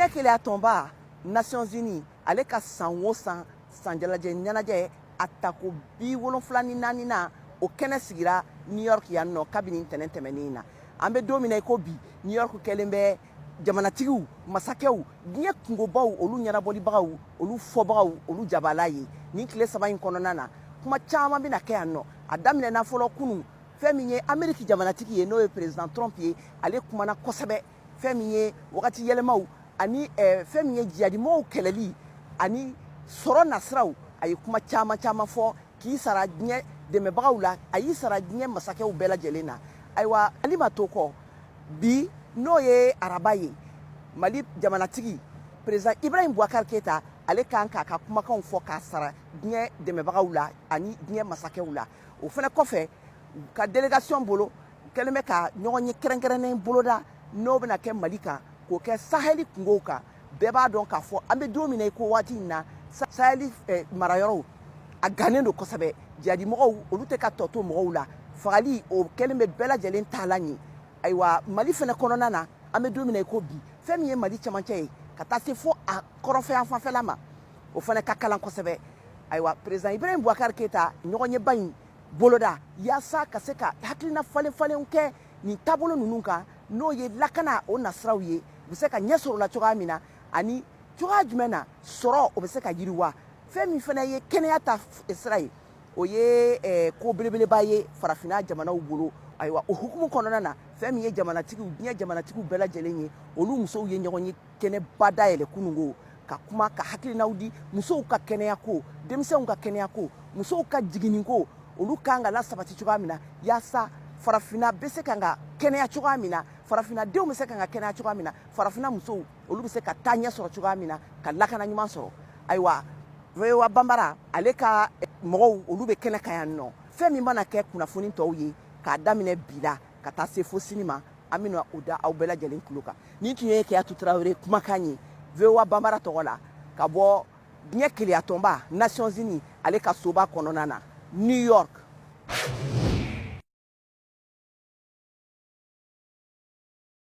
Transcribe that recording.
diɲɛ kelenya tɔnba nations unies ale ka san o san sanjalajɛ ɲɛnajɛ a tako bi wolonfila ni naaninan o kɛnɛ sigira new york yan nɔ kabini ntɛnɛn tɛmɛnen in na an bɛ don min na i ko bi new york kɛlen bɛ jamanatigiw masakɛw diɲɛ kungobaw olu ɲɛnabɔlibagaw olu fɔbagaw olu jabala ye nin tile saba in kɔnɔna na kuma caman bɛna kɛ yan nɔ a daminɛna fɔlɔ kunun fɛn min ye ameriki jamanatigi ye n'o ye president trump ye ale kumana kosɛbɛ fɛn min ye wagati yɛlɛmaw ani eh, fɛn min ye jihadimɔgɔw kɛlɛli ani sɔrɔ nasiraw a ye kuma caman caman fɔ k'i sara diɲɛ dɛmɛbagaw la a y'i sara diɲɛ masakɛw bɛɛ lajɛlen na ayiwa mali ma to kɔ bi n'o ye araba ye mali jamanatigi president ibrahim boubacar keita ale kan k'a ka kumakanw fɔ k'a sara diɲɛ dɛmɛbagaw la ani diɲɛ masakɛw la o fana kɔfɛ a ka delegation bolo kɛlen bɛ ka ɲɔgɔnye kɛrɛnkɛrɛnnen boloda n'o bɛna kɛ mali kan k'o kɛ sahɛli kungow kan bɛɛ b'a dɔn k'a fɔ an bɛ don min na i ko waati in na sahɛli eh, marayɔrɔw a gannen don kosɛbɛ jihadimɔgɔw olu tɛ ka tɔ to mɔgɔw la fagali o kɛlen bɛ bɛɛ lajɛlen taalan ye ayiwa mali fana kɔnɔna na an bɛ don min na i ko bi fɛn min ye mali camancɛ ye ka taa se fo a kɔrɔnfɛ yanfan fɛla ma o fana ka kalan kosɛbɛ ayiwa president ibrahim boubacar keita ɲɔgɔnyeba in boloda yaasa ka se ka hakilina falen falenw kɛ nin taabolo ninnu kan n'o ye lakana o nasiraw ye u bɛ se ka ɲɛ sɔrɔ o la cogoya min na ani cogoya jumɛn na sɔrɔ o bɛ se ka yiriwa fɛn min fana ye kɛnɛya ta sira ye o ye eh, ko belebeleba ye farafinna jamanaw bolo ayiwa o hukumu kɔnɔna na fɛn min ye jamanatigiw diɲɛ jamanatigiw bɛɛ lajɛlen ye olu musow ye ɲɔgɔnye kɛnɛba dayɛlɛ kunungo ka kuma ka hakilinaw di musow ka kɛnɛya ko denmisɛnw ka kɛnɛya ko musow ka jiginni ko olu kan ka lasabati cogoya min na yaasa farafinna bɛ se ka kɛnɛya cogoya min na farafinna denw bɛ se ka kɛnɛya cogoya min na farafinna musow olu bɛ se ka taa ɲɛ sɔrɔ cogoya min na ka lakana ɲuman sɔrɔ ayiwa voa banbara ale ka mɔgɔw olu bɛ kɛnɛ kan yan nɔ fɛn min mana kɛ kunnafoni tɔw ye k'a daminɛ bi la ka taa se fo sini ma an bɛna o da aw bɛɛ lajɛlen tulo kan nin tun ye kadiatou traore kumakan ye voa banbara tɔgɔ la ka bɔ diɲɛ kelenya tɔnba nations unies ale ka soba kɔnɔna na new york